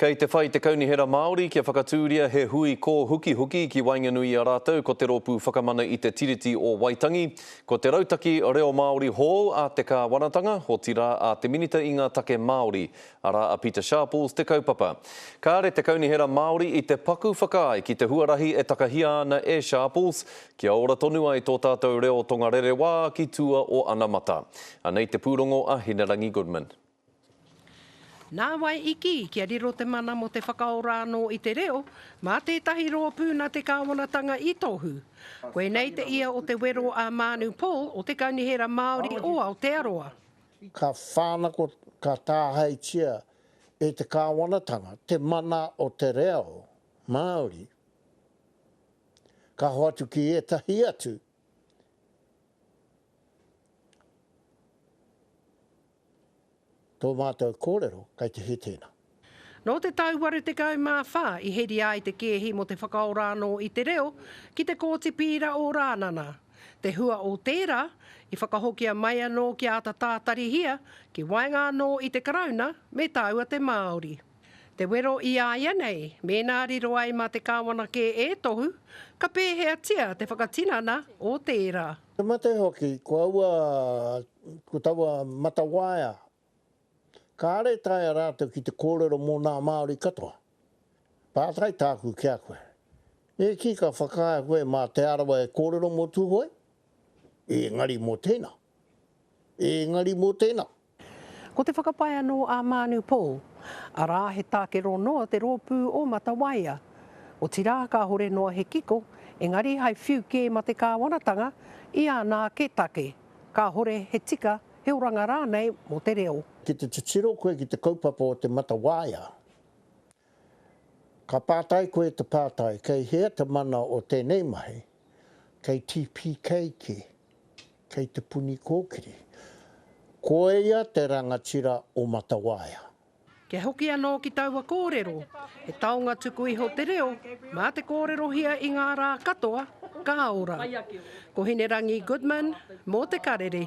Kei te whai te Kaunihera Māori kia whakatūria he hui kōhukihuki ki waenganui i a rātou ko Te Rōpū Whakamana i te Tiriti o Waitangi, ko te Rautaki Reo Māori hou a te Kāwanatanga, otirā a te Minita i ngā Take Māori, arā a Pita Sharples te kaupapa. Kāre te Kaunihera Māori i te paku whakaae ki te huarahi e takahia ana e Sharples kia ora tonu ai tō tātou reo tongarerewa ki tua o anamata. Anei te pūrongo a Hinerangi Goodman. Nāwai i kī, kia riro te mana mō te whakaora anō i te reo, mā tētahi rōpū nā te kāwanatanga i tohu. Koinei te ia o te wero a Mānu Paul o Te Kaunihera Māori o Aotearoa. Ka whānako, ka tāhaitia e te kāwanatanga te mana o te reo Māori, ka hoatu ki ētahi atu. Tō mātou kōrero kei te hē tēnā. Nō te tau 84 i heria ai te kēhi mō te whakaora anō i te reo ki te Kōti Pīra o Rānana. Te hua o tērā, i whakahokia mai anō kia āta tātarihia ki waenga anō i te Karauna me tāua te Māori. Te wero i a ia nei, mēnā riro ai mā te kāwana kē e tohu, ka pēheatia te whakatinana o tērā? Te mate hoki, ko aua, ko taua matawaea, kāre e taea rātou ki te kōrero mō nā Māori katoa. Pātai tāku ki a koe, e kī ka whakaae koe mā Te Arawa e kōrero mō Tūhoe? Ēngari mō tēnā, ēngari mō tēnā. Ko te whakapae anō a Mānu Paul, arā, he tākero noa te rōpū o Matawaia. Otirā, kāhore noa he kiko, engari hai whiu kē mate kāwanatanga i āna ake take, kāhore he tika, he oranga rānei mō te reo. Ki te titiro koe ki te kaupapa o te Matawaia, ka pātai koe te pātai, kei hea te mana o tēnei mahi, kei TPK kē, Kei te puni kōkiri. Ko ia te rangatira o Matawaia. Kia hoki anō ki taua kōrero, he taonga tuku iho te reo, mā te kōrerohia i ngā rā katoa, ka ora. Ko Hinerangi Goodman, mō Te Karere.